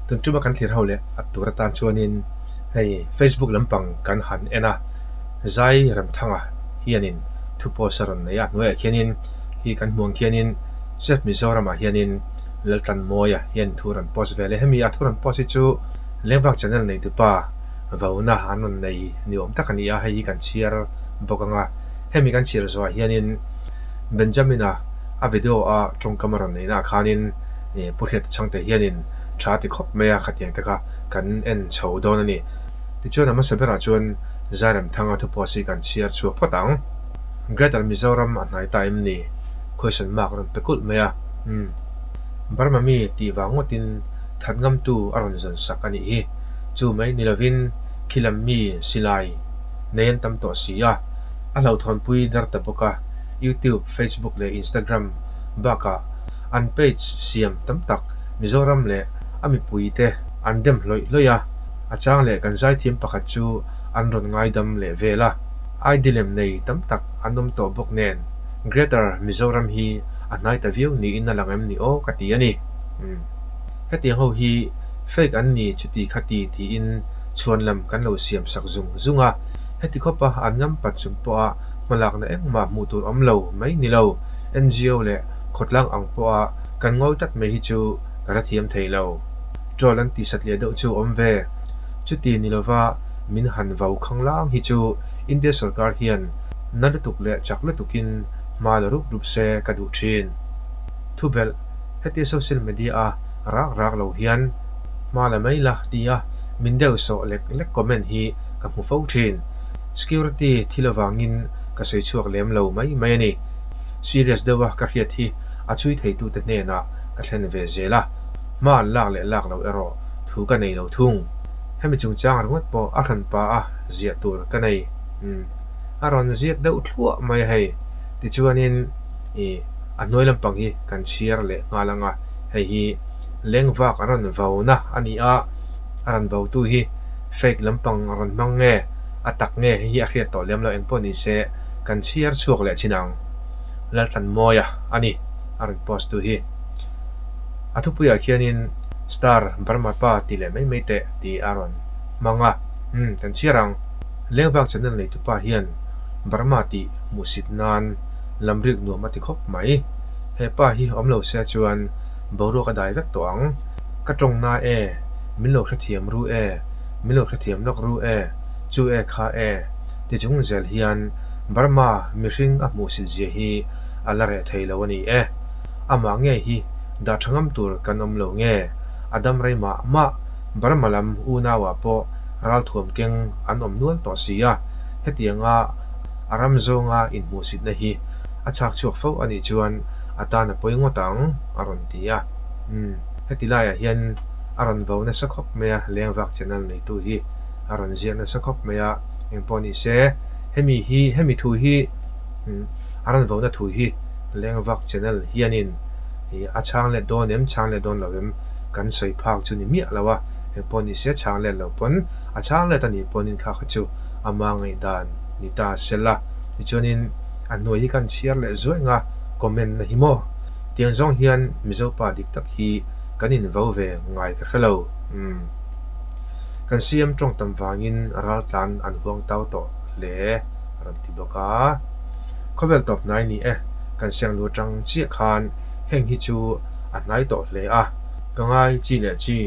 Tun tuma kan thlir ho leh at tur atan chuanin hei Facebook lampang kan han en a, Zai Remthanga hianin thupawsa a rawn nei a, a hnuaiah khianin hei kan hmuh ang khianin Chef Mizoramah hianin Laltan Mawia hian thu a rawn post veleh hemi a thu rawn post hi chu Lengvak Channel neitupa vawna an rawn nei ni awm tak a ni a, hei hi kan chhiar bawk anga hemi kan chhiar zawhah hianin. Benjamin-a a video-a tawngkam a rawn neihnaah khanin Pu Hriat chi changte hianin tha ti khawp mai a, khatiang te kha kan en chho dawn a ni. Tichuan a hmasa berah chuan Zairem Thanga thupost hi kan chhiar chhuak phawt ang. Greater Mizoram a hnai ta em ni? Question mark a rawn pe kulh mai a, umm. Burma mi tih vang ngawtin that ngamtu a rawn zawn sak a nih hi. Chu mai ni lovin khilam mi silai nei an tam tawh si a. a hlauhthawnpui dar ta bawk a, YouTube, Facebook leh Instagram bakah an page siam tam tak Mizoram leh a mipuite an dem hlawih hlawih a, a chang leh kan zaithiam pakhat chu an rawn ngaidam leh vel a, aidi lem nei tam tak an awm tawh bawk nen Greater Mizoram hi a hnai ta viau niin a lang em ni aw ka ti a ni. Umm hetiang ho hi fake an ni chuti kha ti tiin chhuanlam kan lo siam sak zung zung a, Heti khawpa an lam pat chhun pawha hmalakna engmah hmuh tur awm lo mai ni lo. NGO leh khawtlang ang pawha kan ngawi tlat mai hi chu ka hrethiam thei lo. Troll an tihsat leh deuh chu awm ve. Chuti ni lova min han vau khang lang hi chu India sorkar hian na lutuk leh chak lutukin hma la rup rup se ka duh thin. Thubelh, heti social media a rak rak lo hian hma la mai la tia min deuh sawh lek lek comment hi ka hmu fo thin. Security thil avangin ka sawi chhuak lem lo mai mai a ni. Serious deuh a ka hriat hi a chui theitute hnenah ka thlen ve zel a, hma an lak leh lak lo erawh thu ka nei lo thung. Hemi chungchang ringawt pawh a hran pa a ziah tur ka nei. Umm, a rawn ziak deuh thluah mai a hei. Tichuanin i a hnuai lampang hi kan chhiar leh nghal ang a, hei hi lengvak a rawn vau na a ni a, a rawn vautu hi. Fake lampang a rawn hmang nge a tak nge hei hi a hriat tawh lem lo engpawh ni se kan chhiar chhuak leh chin ang. Lalhlanmawia a ni a rawn post tu hi. A thupuiah khianin Star Burma pa ti leh mai mai teh ti a rawn hmang a. Umm kan chhiar ang. Lengvak channel nei tupa hian Burma tih hmuhsit nan lamriuk nuam a ti khawp mai. Hepa hi awm lo se chuan boruak a dai vek tawh ang. Ka tawng na e, min lo hrethiam ru e, min lo hrethiam lawk ru e, chu e kha e, tichung zel hian Burma mihring a hmuh sit zia hi a la reh thei lo a ni e. Amah ngei hi dah tha ngam tur kan awm lo nge? A dam rei mah mah Burma lam unaua pawh ral thuam keng an awm nual tawh si a, hetianga a ram zawnga inhmuhsitna hi a chhak chhuak fo a nih chuan a tan a pawi ngawt ang, a rawn ti. ti a. Umm, heti laiah hian a rawn vo nasa khawp mai a, leng vak channel neitu hi a rawn ziah nasa khawp mai a, engpawh ni se hemi hi hemi thu hi a rawn vo na thu hi leng vak channel hianin a chhang let dawn em chhang let dawn lo em kan sawi phak chu ni miah lo a, engpawh ni se chhang let lo pawn a chhang let a nih pawn in kha kha chu a hma ngaihdan ni ta sela, tichuanin a hnuai hi kan chhiar leh zuaih nga comment na hi maw. Tiang zawng hian Mizo pa dik tak hi kan invo ve ngai ka hre lo umm. Kan CM tawng tam vangin ral tlan an huang tau tawh hle a rawn ti bawk a. Khawvel tawp hnai ni e, kan siangnu atang chiah khan heng hi chu a hnai tawh hle a, ka ngai chi leh chi,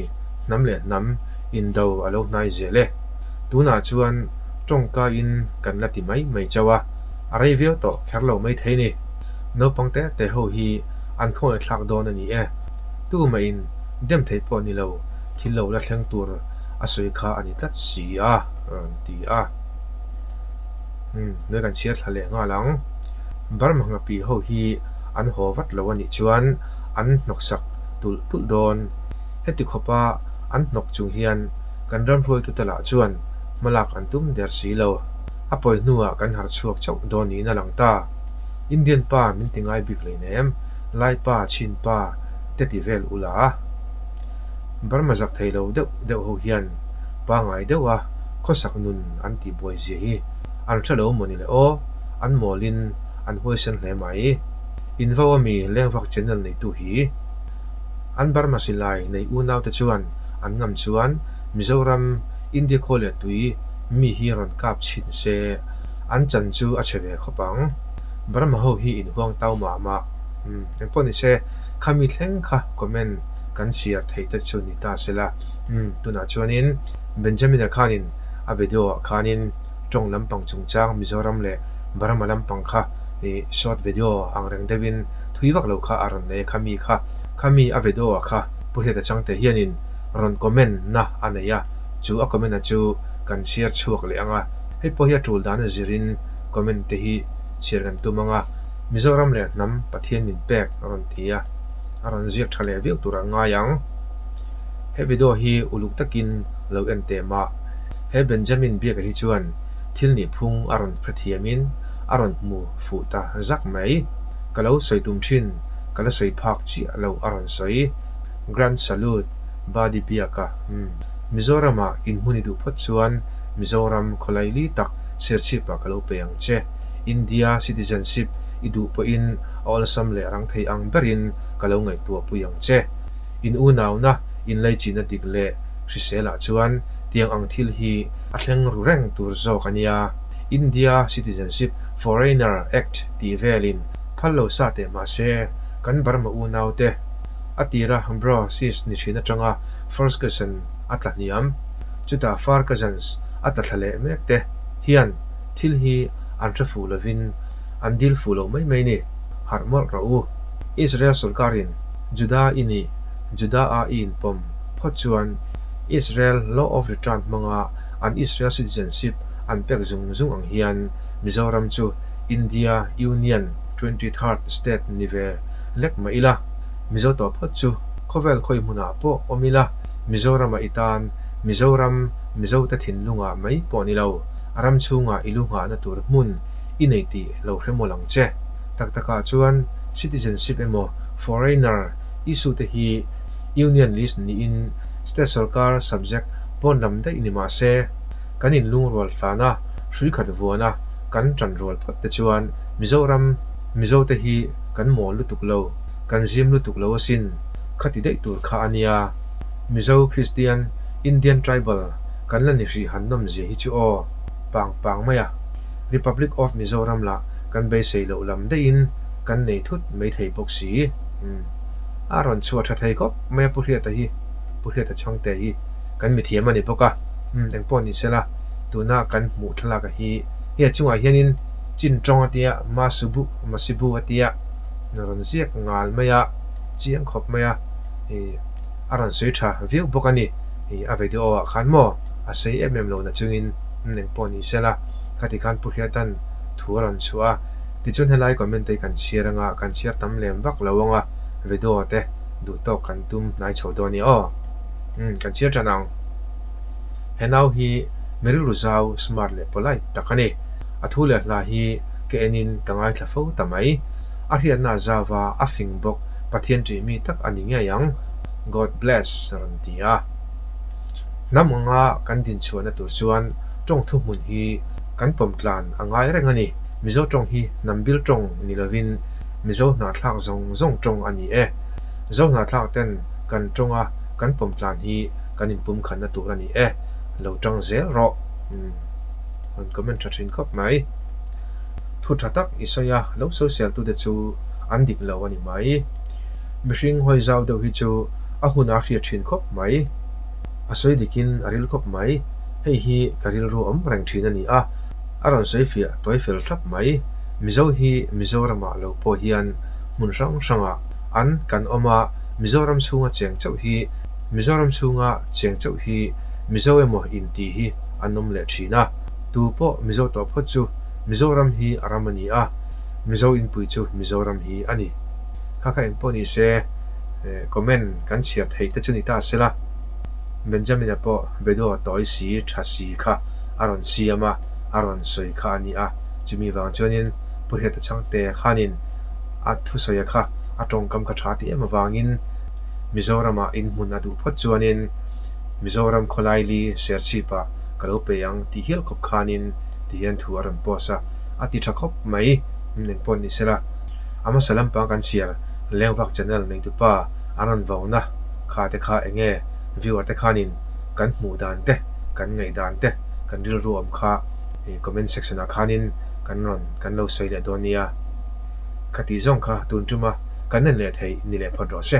hnam leh hnam in do a lo hnai zel e. Tunah chuan tawngka in kan la ti mai mai chauh a. a rei viau tawh kher lo mai thei ni. Naupang te te ho hi an khawngaih thlak dawn a ni e. Tu mah in dem thei pawh ni lo, thil lo la thleng tur a sawi kha a ni tlat si a rawn ti a. Nui kan chhiar thla leh nghal ang. Burma hngapii ho hi an haw vat lo a nih chuan an hnawksak tulh tulh dawn. Heti khawpa an hnawk chung hian kan ramhruaitute lah chuan hmalak an tum der si lo. a pawi hnuah kan har chhuak chauh dawn niin a lang ta. Indian pa min ti ngai bik lein em, Lai pa, Chin pa te ti vel u la. Burma zak thei lo deuh deuh ho hian pangngai deuh a khawsak nun an ti buai zia hi an hre lo mawni le aw, an mawlin an huaisen hle mai. Invo a mi Lengvak channel neitu hi an Burma silai nei unaute chuan an ngam chuan Mizoram India khaw leh tui mi hi rawn kap chhin se, an chan chu a chhe ve khawp ang. Burma ho hi in huang tau mah mah. Umm, eng pawh ni se, kha mi thleng kha comment kan share thei te chu ni ta se la. Umm, tunah chuanin Benjamin-a khanin a video-ah khanin tawng lampang chungchang Mizoram leh Burma lampang kha short video ang reng deuhin thui vak lo kha a rawn nei a kha mi kha. Kha mi a video-ah kha Pu Hriata Changte hianin rawn comment na a nei a. Chu a comment-a chu kan share chhuak leh ang a, hei pawh hi a tul dan a zirin comment te hi share kan tum ang a, Mizoram leh hnam Pathian min pek a rawn ti a, a rawn ziak tha leh viau tur a ngai ang. He video hi uluk takin lo en teh mah, he Benjamin biaka hi chuan thil nihphung a rawn hrethiamin a rawn hmu fuh ta zak mai, ka lo sawi tum thin, ka la sawi phak chiah lo a rawn sawi, grand salute. Badi biaka Mizoramah inhmun i duh phawt chuan Mizoram khawlai li tak serchhip ah ka lo pe ang che. India citizenship i duh pawhin a awlsam leh rang thei ang ber in ka lo ngaihtuah pui ang che. In unauna, in lei chihna dik leh hrisel ah chuan tiang ang thil hi a thleng ru reng tur zawk a nia. India Citizenship, Foreigner, Act tih vel in phal lo sa teh mah se kan Burma unau te, a tir a, Bro, Sis ni chhin atanga first cousin a tla hniam, chutah far cousins a tla thla leh mek te hian thil hi an hre fuh lovin an dil fuh lo mai mai ni? Harh mawlh rawh u. Israel sawrkarin Juda i nih Juda-a i inpawm phawt chuan Israel Law of Return hmanga an Israel citizenship an pek zung zung ang hian Mizoram chu India Union twenty third state ni ve lek mah ila, Mizo tawp hawt chu khawvel khawi hmunah pawh awm ila, Mizorama i tan, Mizoram, Mizote thinlunga mai pawh ni lo, a ram chhunga i lu nghahna tur hmun i nei ti lo hre mawlh ang che. Tak takah chuan citizenship emaw foreigner issue te hi Union list niin state sawrkar subject pawn lam daih ni mah se, kan inlungrual tlana, hrui khat vuana kan tan rual phawt te chuan Mizoram, Mizo te hi kan mawl lutuk lo, kan zim lutuk lo asin, kha ti daih tur kha a nia. Mizo, Kristian, Indian tribal kan la ni hrih han nawm zia hi chu aw pang pang mai a. Republic of Mizoram lah kan beisei loh lam deihin kan nei thut mai thei bawk si. Umm. A rawn chhuah tha thei khawp mai a Pu Hriata hi, Pu Hriata Chhangte hi kan mithiam a ni bawk a. Umm, engpawh nih sela, tuna kan hmuh thlalak a hi, hei a chungah hianin, Chin tawng a tia, ma su bu, ma si bu a tia ni rawn ziak ngal mai a, chiang khawp mai a ni a rawn sawi tha viau bawk a ni ni a video ah khan maw a sei em em lo na chungin eng pawh ni sela khati khan pu hriatan thu a rawn chhuah a tichuan helai comment te kan chhiar anga kan chhiar tam lem vak lo anga video te duh tawk kan tum hnai chho dawn ni aw umm kan chhiar tan ang he nau hi mi rilru zau smart leh polite tak a ni. A thu leh hna hi ka en in ka ngaithla fo ta mai. A hriatna zava a fing bawk Pathian tih mi tak a ni ngei ang. God bless a rawn ti a. Hnam anga kan din chhuahna tur chuan tawng thu hmun hi kan pawm tlan a ngai reng a ni. Mizo tawng hi Nambil tawng ni lovin Mizo hnahthlak zawng zawng tawng a ni e. Zo hnahthlak ten kan tawnga kan pawm tlan hi kan in pumkhanna tur a ni e. Lo tang zel rawh. Rawn comment tha thin khawp mai. Thu tha tak i sawi a, lo sosialtu te chu an dik lo a ni mai. Mihring hawi zau deuh hi chu a hun a hriat thin khawp mai. A sawi dik in a ril khawp mai. Hei hi ka rilru awm reng thin a ni a. A rawn sawi fiah tawi fel thlap mai. Mizo hi Mizoram ah lo pawh hian hmun hrang hrang ah an kan awm a, Mizoram chhunga cheng chauh hi Mizoram chhunga cheng chauh hi Mizo emaw in tih hi. an awm leh thin a, tu pawh Mizo tawh phawt chu Mizoram hi a ram a ni a, Mizo inpui chu Mizoram hi a ni. Kha kha engpawh ni se, comment kan chhiar theih te chu ni ta sela, Benjamin a pawh Bedo tawi si tha si kha a rawn siam a, a rawn sawi kha a ni a, chumi vang chuanin Purheta Changte khanin a thusawi a kha a tawngkam kha tha ti em avangin Mizoramah inhmun a duh phawt chuanin, Mizoram khawlaili serchhip ah ka lo pe ang ti hial khawp khanin tihian thu a rawn post a, a ti tha khawp mai, umm engpawh a ni sela a hmasa lampang kan siar Lengvak channel neitupa a rawn vo na kha te kha enge viewer te khanin kan hmuh dan te kan ngaih dan te kan rilru awm kha i comment section ah khanin kan rawn kan lo sawi leh dawn nia kha tih zawng kha tun tuma ka nan leh thei ni leh phawt rawh se.